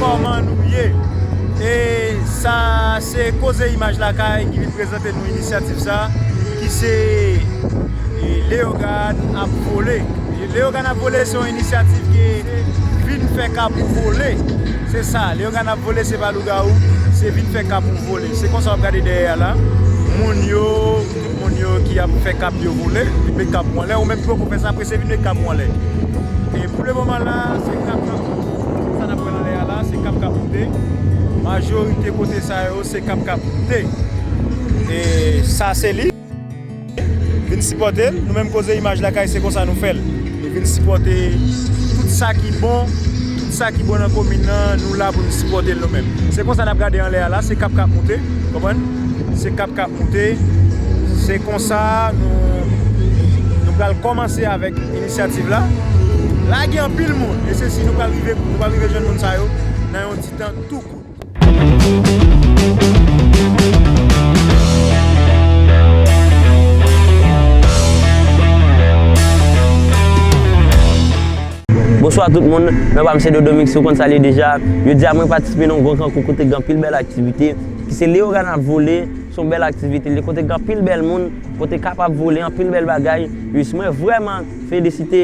Kòman nou ye? E sa se Koze Imaj Lakay ki vin prezante nou inisyativ sa ki se Leyogàn ap vole. Leyogàn ap vole se yon inisyativ ki vin fè kab ou vole. Se sa, Leyogàn ap vole se pa lougawou, se vin fè kab ou vole. Se konsa w ap gade dèyè a la, moun yo. Moun yo ki ap fè kab yo vole, vin met kab ou anlè, ou menm ki poko fè sa prese vin met kab ou anlè. E pou le moman la, se kab nan sou nou. Sa nap wè nan lè a la, se kab kap moute. Majorite kote sa yo, se kab kap moute. E sa se li. Vin sipòte l. Nou menm koze imaj lakay se konsa nou fè l. Nou vin sipòte tout sa ki bon, tout sa ki bon nan komin nan, nou la pou nou sipòte l nou menm. Se konsa n ap gade anlè a la, se kap k ap moute, ou konprann? Se kap k ap moute. Se konsa nou pral kòmanse avèk inisyativ la. La gen anpil moun, e se si nou pral rive, nou pral rive jwenn moun sa yo nan yon ti tan tou kout. Bonswa tout moun, nan pa m se Dodo Mix ou konn sa l ye deja. Jodi a mwen patisipe nan yon gwo kankou kote gen anpil bèl aktivite. Ki se Leyogan ap vole, se yon bèl aktivite l ye kote gen anpil bèl moun, kote kap ap vole, anpil bèl bagay. Jis mwen vrèman felisite.